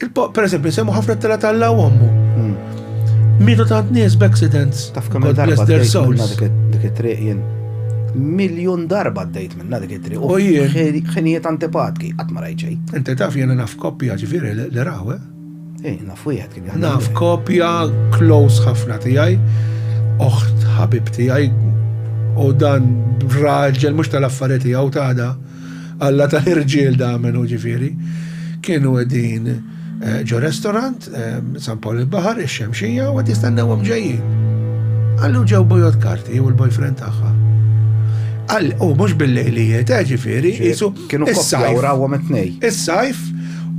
Per eżempju, nsemmu ħafna t-tela tal-law ommu. Hmm. Mietu tant nies b'accidents. Taf kemm darba dik it-triq jien. Miljun darba d-dejt minna dik it-triq. U jien. Xenijiet antipatki, qatt ma rajt Inti taf jiena naf koppja ġifieri li rawe. Eh? eh, naf wieħed kien jaħdem. Naf koppja close ħafna tiegħi, oħt ħabib tiegħi, u dan raġel mhux tal-affarijiet tiegħu tada. Alla ta' irġiel da menu ġifieri. Kienu qegħdin eh, ġo restorant, eh, San Paul il-Baħar, ix-Xemxija, u qed jistennewhom ġejjin. Għallu ġew bojot karti u l-boyfriend tagħha. Għal, u mhux bil-lejlijiet, eh, ġifieri, jisu. Kienu koppja u rawhom it-tnej. Is-sajf,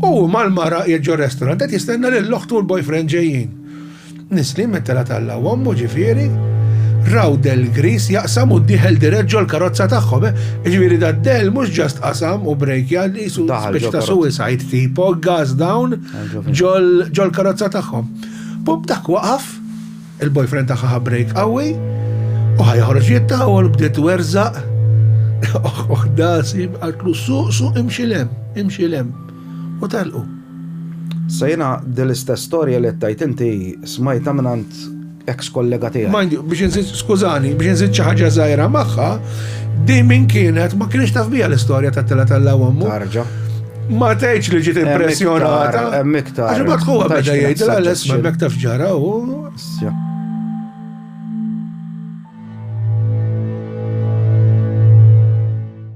u mal-mara jieġu restorant, qed jistenna lill-oħtu u l-boyfriend ġejjin. Nisli mit-telgħa tal-lawm ommu ġifieri, raw Del Gris jaqsam u dieħel dirett ġol-karozza tagħhom. Eh? Ġifieri da Del mhux ġast qasam u brejkja li jisu speċi ta' suicide tipo gas down ġol-karozza tagħhom. Bub dak waqaf, il-boyfriend tagħha brejk qawwi, u ħajħorġ jittawol bdiet werżaq. Oħda sib għaltlu suq suq imxilem, imxilem. u telqu. Sa jiena din l-istess storja li qed tgħid inti smajtha mingħand ex kollega tiegħi. Mind you, biex inżid, skużani, biex inżid xi ħaġa żgħira magħha, din min kienet ma kienx taf biha l-istorja ta' tela tal ommu. Tarġa. Ma tgħidx li ġiet impressjonata. Hemm iktar. Għax ma tħuha beda jgħid l-għalles ma mek taf ġara u.